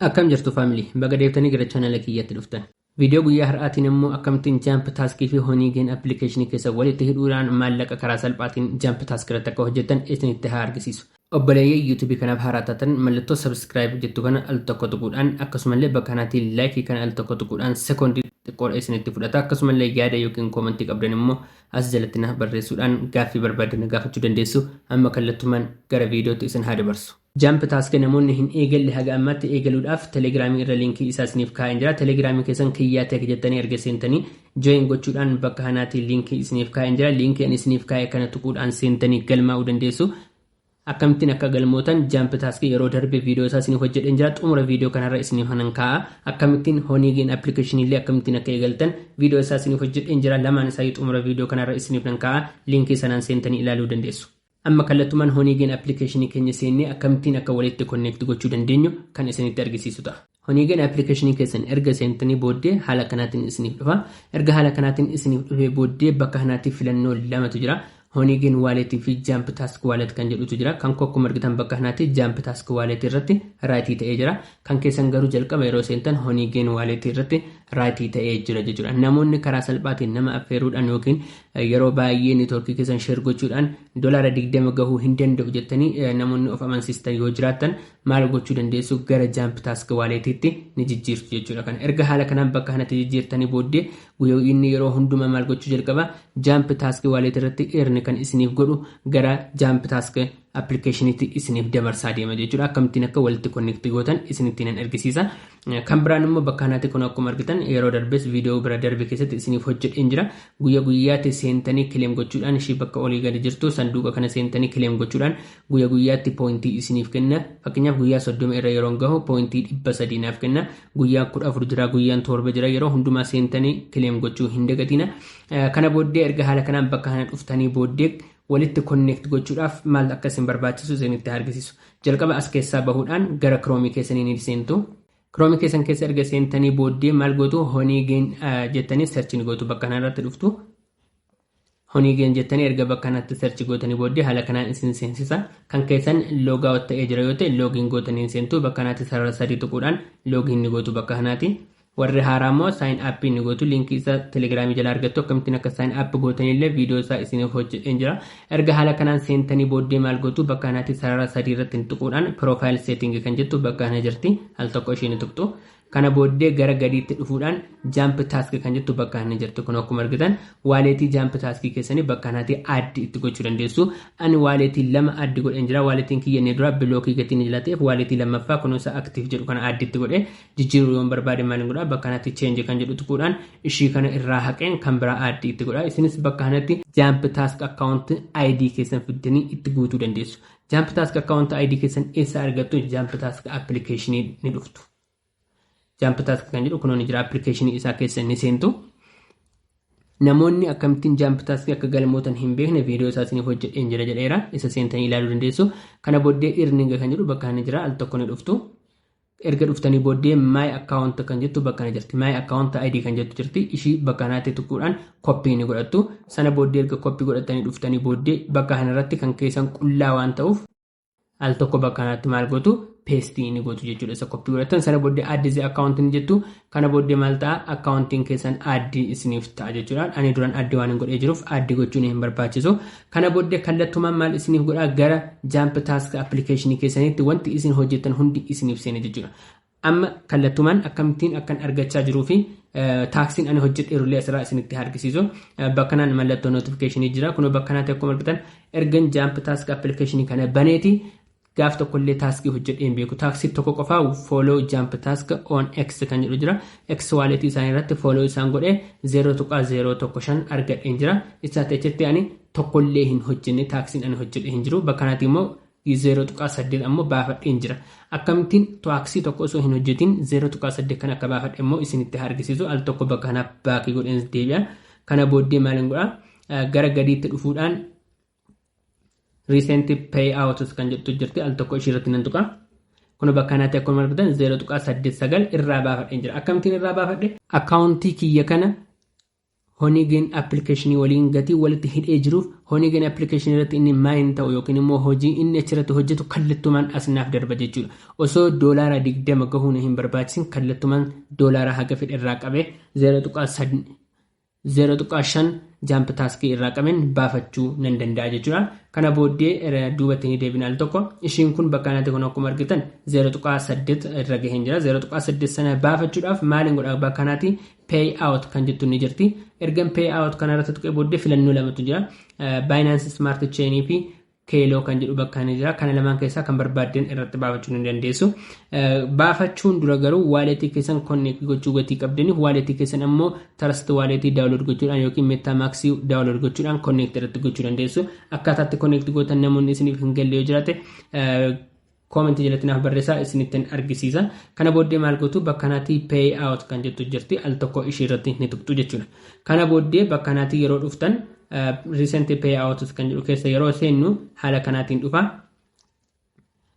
Akkam jirtu family baga deebitanii gara channel kiyyatti dhuftan. Video guyyaa har'aatiin immoo akkamittiin jump task fi honey gain application keessa walitti hidhuudhaan maallaqa karaa salphaatiin jump task irratti akka hojjettan isinitti haa argisiisu. Obboleeyyii YouTube kanaaf haaraa taatan mallattoo subscribe jettu kana al tokko tuquudhaan akkasumallee bakka kanaatiin like kana al tokko tuquudhaan sekondi xiqqoodha isinitti fudhata akkasumallee yaada yookiin koomantii qabdan immoo as jalatti naaf barreessuudhaan gaaffii barbaaddan gaafachuu dandeessu amma kallattumaan gara viidiyootti isin haa dabarsu. Jump Task namoonni hin eegalle haga ammaatti eegaluudhaaf Telegram irra linkii isaa isiniif kaa'een jira. Telegram keessan Kiyyaa Tech jettanii erga seentanii join gochuudhaan bakka kanaatii linkii isiniif kaa'een jira. Linkii ani isiniif kaa'e kana tuquudhaan seentanii galmaa'uu dandeessu. Akkamittiin akka galmootan Jump Task yeroo darbe viidiyoo isaa isiniif hojjedheen jira. Xumura viidiyoo kanarra isiniif hanan kaa'a. Akkamittiin Honeygain application illee akkamittiin akka eegaltan viidiyoo isaa isiniif hojjedheen jira. Lamaan isaa xumura viidiyoo kanarra isiniif nan kaa'a. Linkii sanaan seentanii ilaaluu dandeessu. Amma kallattumaan Honeygen application keenya seennee akkamittiin akka walitti connect gochuu dandeenyu kan isinitti argisiisu ta'a. Honeygen application keessan erga seentanii booddee haala kanaatiin isiniif dhufa. Erga haala kanaatiin isiniif dhufee booddee bakka kanaatti filannoo lamatu jira. Honeygen wallet fi Jump Task wallet kan jedhutu jira. Kan koo akkuma argitan bakka kanaatti Jump Task wallet irratti raayitii ta'ee jira. Kan keessan garuu jalqaba yeroo seentan Honeygen wallet irratti raayitii ta'ee jira jechuudha. Namoonni karaa salphaatiin nama affeeruudhaan yookiin Yeroo baay'ee network keessan share gochuudhaan dolaara 20 gahuu hin danda'u jettanii namoonni of amansiistan yoo jiraattan maal gochuu dandeessu gara jump task wallet itti ni jijjiirtu jechuudha kana erga haala kanaan bakka kanatti jijjiirtanii booddee guyyaa inni yeroo hundumaa maal gochuu jalqaba jump task wallet irratti earn kan isiniif godhu gara jump task application itti isiniif dabarsaa deema jechuudha akkamittiin akka walitti connect gootan isinittiin hin argisiisa Kan biraan immoo bakka kanatti kun akkuma argitan yeroo darbes viidiyoo bira darbe keessatti isiniif hojjedheen jira. Guyya guyyaatti seentanii kileem gochuudhaan ishii bakka olii gadi jirtu sanduuqa kana seentanii kileem gochuudhaan guyya guyyaatti pooyintii isiniif kenna. Fakkeenyaaf guyyaa soddoma irra yeroon gahu pooyintii dhibba sadii naaf kenna. Guyyaa kudha afur jira guyyaan torba jira yeroo hundumaa seentanii kileem gochuu hin dagatiina. Kana booddee erga haala kanaan bakka kana dhuftanii booddee walitti connect gochuudhaaf maal akka isin barbaachisu isinitti argisiisu. Jalqaba as keessaa bahuudhaan gara Chrome keessanii ni seentu. Chrome keessan keessa erga seentanii booddee maal gootu Honeygen jettanii search ni gootu bakka kanarratti dhuftu. Honeygen jettanii erga bakka kanatti search gootanii booddee haala kanaan isin seensisa. Kan keessan logout ta'ee jira yoo ta'e login gootanii seentu bakka kanatti sarara sadii tuquudhaan login ni gootu bakka kanaati. Warri haaraa immoo sign up ni gootu link isa telegram jala argattu akkamittiin akka sign up gootan illee video isaa isiniif hojjedheen jira erga haala kanaan seentanii booddee maal gootu bakka kanaatti sarara sadii irratti ni tuquudhaan profile setting kan jettu bakka kana jirti al tokko ishee ni tuqxu kana booddee gara gadiitti dhufuudhaan jump task kan jettu bakka kana jirti kun akkuma argitan waaleetii jump task keessanii bakka kanaatti addi itti gochuu dandeessu ani waaleetii lama addi godheen jira waaleetiin kiyya inni dura bilookii gatiin jala ta'eef waaleetii lammaffaa kunuunsa active jedhu kana addi itti godhe jijjiiruu yoon barbaade maal godha bakka kanatti change kan jedhu tuquudhaan ishii kana irraa haqeen kan biraa add itti godha isinis bakka kanatti jump task account id keessan fiddanii itti guutuu dandeessu jump task account id keessan eessa argattu jump task application ni dhuftu jump task kan jedhu kunoon jira application isaa keessa ni seentu namoonni akkamittiin jump task akka galmootan hin beekne viidiyoo isaa isiniif hojjedheen jira jedheera isa seentanii ilaaluu dandeessu kana booddee irninga kan jedhu bakka kana jira al tokko ni dhuftu Erga dhuftanii booddee my account kan jettu bakka kana jirti. My account ID kan jettu jirti. Ishii bakka kanaatti tuquudhaan koppii ni godhattu. Sana booddee erga koppii godhattanii dhuftanii booddee bakka kanarratti kan keessan qullaa waan ta'uuf al tokko bakka kanaatti maal gootu peestii ni gootu jechuudha. Isa koppii godhattan sana booddee add the account ni jettu. Kana booddee maal ta'a akkaawuntiin keessan aaddii isiniif ta'a jechuudha. Ani duran aaddii waan hin godhee jiruuf aaddii gochuun hin barbaachisu. Kana booddee kallattumaan maal isiniif godhaa gara jaamp taask appilikeeshinii keessaniitti wanti isin hojjettan hundi isiniif seena jechuudha. Amma kallattumaan akkamittiin akkan argachaa jiruu fi taaksiin ani hojjedheerullee asirraa isinitti argisiisu. Bakkanaan mallattoo notifikashinii jira. Kunoo bakkanaa ta'e akkuma argitan ergan jaamp taask appilikeeshinii kana baneeti Gaaf tokko illee taaskii hojjedhee hin beeku. Taaksii tokko qofa follow jump task on X kan jedhu jira. X wallet isaanii irratti follow isaan godhe 0.015 argadheen jira. Isaatti achitti ani tokko illee hin hojjenne taaksiin ani hojjedhe hin jiru. Bakka kanatti immoo 0.8 ammoo baafadheen jira. Akkamittiin taaksii tokko osoo hin hojjetiin 0.8 kan akka baafadhe immoo isinitti argisiisu al tokko bakka kanaaf baakii godheen deebi'a. Kana booddee maal hin godhaa? Gara gadiitti dhufuudhaan recent payouts kan jettu jirti al tokko ishii irratti nan tuqa kun bakka kanatti akkuma argitan 0.89 irraa baafadheen jira akkamittiin irraa baafadhe akkaawuntii kiyya kana honigeen appilikeeshinii waliin gatii walitti hidhee jiruuf honigeen appilikeeshinii irratti inni maayin ta'u yookiin immoo hojii inni achirratti hojjetu kallattumaan asinaaf darba jechuudha osoo doolaara 20 gahuu na hin barbaachisin kallattumaan doolaara haga fedhe irraa qabee 0.9 0.5 jump task irraa qaben baafachuu nan danda'a jechuudha. Kana booddee irra duubatti ni deebina al tokko. Ishiin kun bakka kanatti kun akkuma argitan 0.8 irra gaheen jira. 0.8 sana baafachuudhaaf maaliin godha bakka kanatti pay out kan jettu ni jirti. Ergan pay out kana irratti tuqee booddee filannoo lamatu jira. Binance Smart Chain fi Keeloo kan jedhu bakka ni jira. Kana lamaan keessaa kan barbaadden irratti baafachuu ni dandeessu. Baafachuun dura garuu waaleetii keessan konneekti gochuu gatii qabdaniif waaleetii keessan ammoo tarasti waaleetii daawulood gochuudhaan yookiin meettaa maaksii daawulood gochuudhaan konneekti irratti gochuu dandeessu. Akkaataatti konneekti gootan namoonni isiniif hin galle yoo jiraate Comment jalatti naaf barreessaa isinittin argisiisa. Kana booddee maal gootu bakka kanatti pay out kan jettu jirti al tokko ishii irratti ni tuqxu jechuudha. Kana booddee bakka kanatti yeroo dhuftan recent pay out kan jedhu keessa yeroo seennu haala kanaatiin dhufa.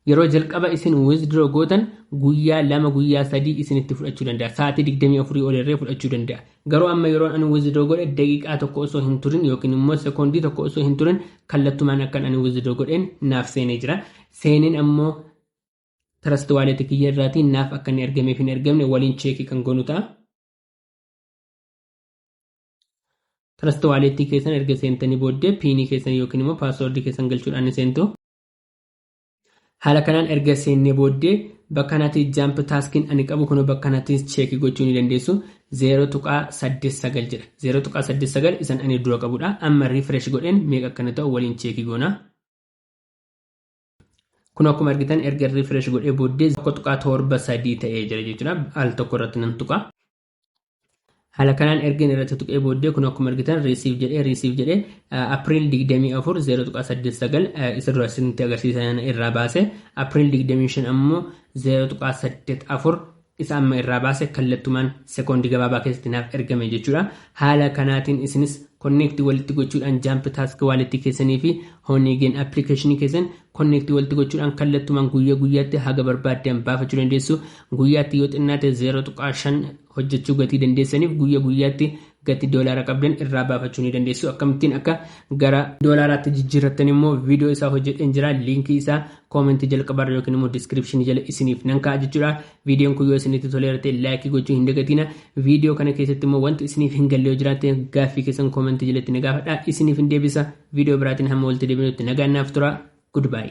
Yeroo jalqaba isin withdraw gootan guyyaa lama guyyaa sadii isinitti fudhachuu danda'a. Sa'aatii 24 ol irree fudhachuu danda'a. Garuu amma yeroon ani withdraw godhe daqiiqaa tokko osoo hin turin yookiin immoo sekoondii tokko osoo hin turin kallattumaan akkan ani withdraw godheen naaf seenee jira. Seeneen ammoo trust wallet kiyya irraatii naaf akka inni ergameef hin ergamne waliin cheekii kan goonu ta'a. Trust wallet keessan erga seentanii booddee piinii keessan yookiin immoo paaswoordii keessan galchuudhaan ni seentu. Haala kanaan erga seennee booddee bakka kanatti jump taskiin ani qabu kunoo bakka kanatti cheekii gochuu ni dandeessu 0.89 jedha 0.89 isan ani dura qabudha amma refresh godheen meeqa akkana ta'u waliin cheekii goona kun akkuma argitan erga refresh godhee booddee 1.73 ta'ee jira jechuudha al tokko irratti nan tuqa haala kanaan ergin irratti tuqee booddee kun akkuma argitan riisiif jedhee riisiif jedhee apriil 24 0.89 isa dura isinitti agarsiisan irraa baase apriil 25 ammoo 0.84 isa amma irraa baase kallattumaan sekoondii gabaabaa keessatti naaf ergame jechuudha haala kanaatiin isinis konneektii walitti gochuudhaan jaampi taask waalitti keessanii fi hooniigeen appilikeeshinii keessan konneektii walitti gochuudhaan kallattumaan guyyaa guyyaatti haga barbaaddan baafachuu dandeessu Guyyaatti yoo xinnaate 0.5 hojjechuu gatii dandeessaniif guyya guyyaatti gati doolaara qabdan irraa baafachuu ni dandeessu akkamittiin akka gara doolaaraatti jijjiirrattan immoo viidiyoo isaa hojjedheen jira liinkii isaa koomentii jalqabaarra yookiin immoo diskiripshinii jala isiniif nan kaa'a jechuudha viidiyoon kun yoo isinitti toleera ta'e laayikii gochuu hin dagatiina viidiyoo kana keessatti immoo wanti isiniif hin galle yoo jiraatte gaaffii keessan koomentii jalatti na gaafadha isiniif hin deebisa viidiyoo biraatiin hamma walitti deebinutti nagaan naaf tura goodbye